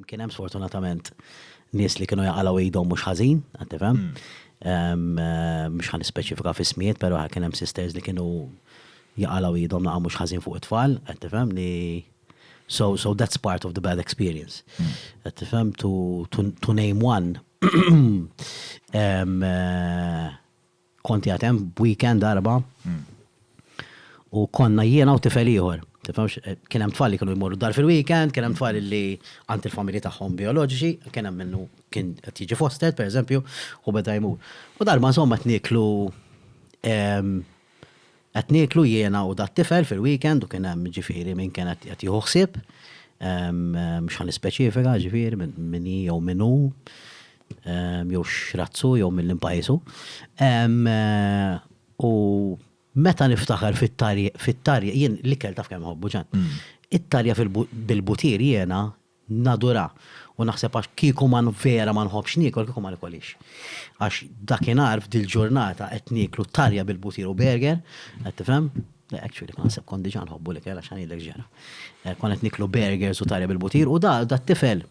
Kien hemm sfortunatament nies li kienu jaqalgħu idhom mhux ħażin, qed tifhem. Mhux ħa nispeċifika f'ismijiet, però kien hemm sisters li kienu jaqalgħu idhom naqgħu mhux ħażin fuq it-tfal, qed tifhem, li so so that's part of the bad experience. Qed tifhem to to name one. Kont qiegħed hemm b'weekend Erbgħa u konna jiena u tifel ieħor. Tifhemx, kien hemm tfal li kienu jmorru dar fil-weekend, kien hemm tfal li għand il-familji tagħhom bijoloġiċi, kien hemm minnu kien qed jiġi fostered, pereżempju, u beda jmur. U darba insomma qed nieklu Qed nieklu jiena u dat-tifel fil-weekend u kien hemm ġifieri min kien qed jieħu ħsieb, mhux ħa nispeċifika ġifieri min hi jew min hu jew x'razz hu jew minn liema pajjiż hu. U meta niftakar fit-tarja, jien l-ikel taf kemm inħobbu Ġan, it-tarja bil-butir jiena Nadura, u naħseb għax kieku ma vera ma nħobbx niekol kieku ma nikolhiex. Għax dakinhar f'dil-ġurnata qed nieklu tarja bil-butir u burger, qed tifhem? Le, actually kont naħseb kont diġà nħobbu l-ikel għax ħa ngħidlek x'ġara. Konna qed nieklu burgers u tarja bil-butir u da dat-tifel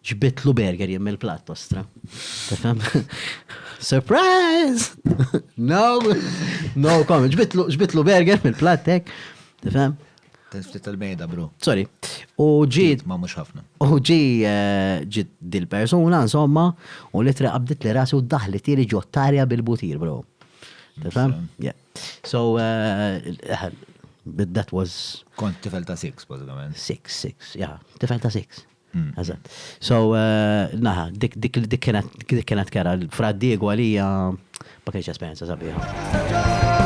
ġbidtlu burger jien mill-platt, ostra. Tifhem? Surprise! No, no comment. Ġbidtlu burger mill-platt hekk, tifhem? Ftit tal-bejda, bro. Sorry. U ġi. Ma mhux ħafna. U ġi eh, ġi dil-persuna, insomma, u li tre qabdet li rasi u daħli tieli ġottarja bil-butir, bro. Tifhem? Yeah. So, eh, but that was. Kont tifel ta' six, bażikament. Six, six, yeah. Tifel ta' six. Eżatt. So, naħa, dik dik dik kienet dik kienet kera l-Fra Diego għalija ma kienx esperjenza sabiħa.